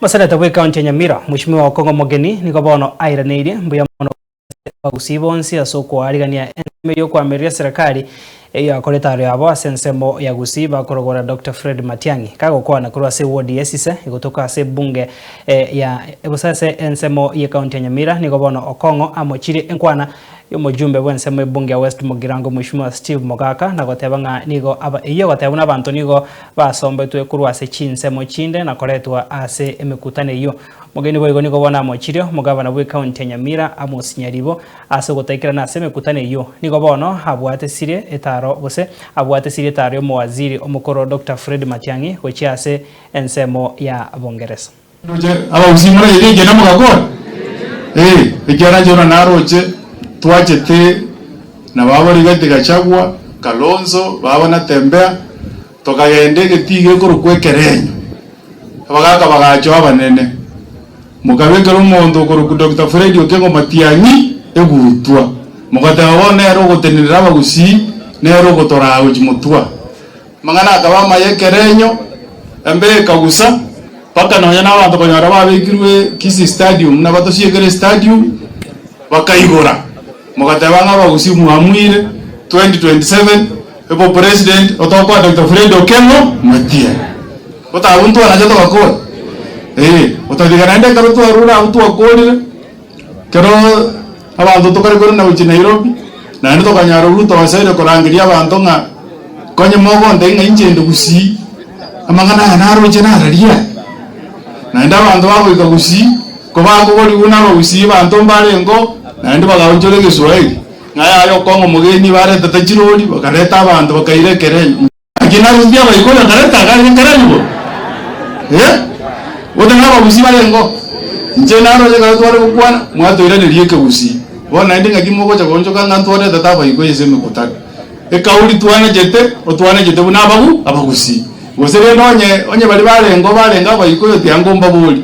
Mosenete bw'Ekaunti ya Nyamira, Mweshimiwa Okong'o Omogeni, nigo bono airaneirie mbuya mono ase abagusii bonsi ase okoarigania ensemo ey'okoamereria Serekari eyio akorete aro yabo ase ensemo ya Gusii bakorogora Doctor Fred Matiang'i kagokwana korwa ase ewodi ya Esise gotoka ase ebunge ya gose ase ensemo y'Ekaunti ya Nyamira nigo bono Okong'o amochirie enkwana Y'omojumbe bw'ensemo ebunge ya West Mugirango Mweshimiwa Steve Mogaka na goteba ng'a nigo aba eyio egotebwa nabanto nigo basombetwe korwa ase chinsemo chinde na koretwa ase emekutano eyio. Mogeni boigo nigo bono amochirie omogabana bw'ekaunti ya Nyamira Amos Nyaribo ase ogotaikera nase emekutano eyio nigo bono abwate sirie etaro gose abwate sirie etaro y'omowaziri omokoro Doctor Fred Matiang'i gochia ase ensemo ya Bungeresa. Ndoche abagusii more erio ekiagera mogakora? Ee, ekiagera inche buna naroche twachete na baba Rigathi Gachagua, Kalonzo, baba Natembeya, tokagenda egetiga ekorokwa Ekerenyo, abagaka bagachoa abanene, mokabekera omonto okorokwa Doctor Fred Okengo Matiang'i egutwa, mogateba bono nere ogotenenera abagusii, nere ogotoraa gochia motwa. Amang'ana akaba amaya ekerenyo, embe ekagusa, mpaka nonya nabanto konyora babekirwe Kisii Stadium buna batosiekire Stadium, bakaigora, mogateba ng'a abagusi mwamuire, 2027 ebo president otokwa Doctor Fred Okengo Omotia. Gotaga intwe anache togakora, ee, otatiga naende ekero twarure abwo twakorire. Ekero abanto tokare korenda gochia Nairobi, naende tokanyara obuya togosaria korangeria abanto ng'a konye mogontebia ng'a inche inde gusii, amang'ana aya naroche nararie aa? Naende abanto bagoika gusii, kobakogorigwa nabagusii abanto mbarengeo, naende bagaonchora egeswahili, ng'a yaye okong'a omogeni, barenta tachirori, bakareta abanto bakaira ekerenyo. Naki narusirie abaikori batarenta akare gekeranigwa, ee, gose nabagusii barengeo, inche naro onye ekero tware gokwana, mwatoiraneria ekegusii, bono naende ng'aki mogocha koonchoka ng'a ntwaretete abaikoi ase emekutano? Ekauri twanechete, otwanechete buna abagu abagusii. Gose rende onye, onye baria barengeo barenge abaikoi otiga nkombaboria.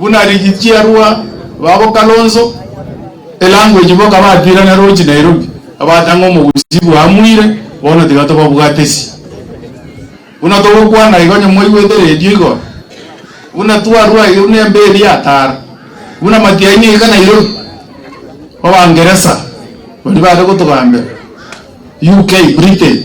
Buna rigichiarwa babo Kalonzo e language boka batwirana roche Nairobi abatang'o mogusi bwa amuire bono tiga tobabwatesi buna togokwana igo onye mwaigwete radio igoro buna twarwa iga buna embe eria atara buna matiaini iga Nairobi obangeresa baria bare gotogambera UK Britain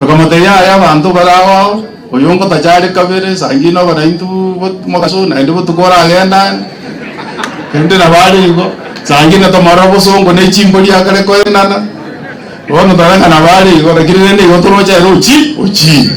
Bakamotebia, Aye abanto bare ao ao, oyo ngotacha are kabere sangi'ne obe naintwe mogaso, naende botuko oragenda are, erinde nabo are igo sangi'ne tomorore obosongo ne chimbori akare koenana. Bono tore ng'a nabo are igo, lakini rende igo toroche ere ochire.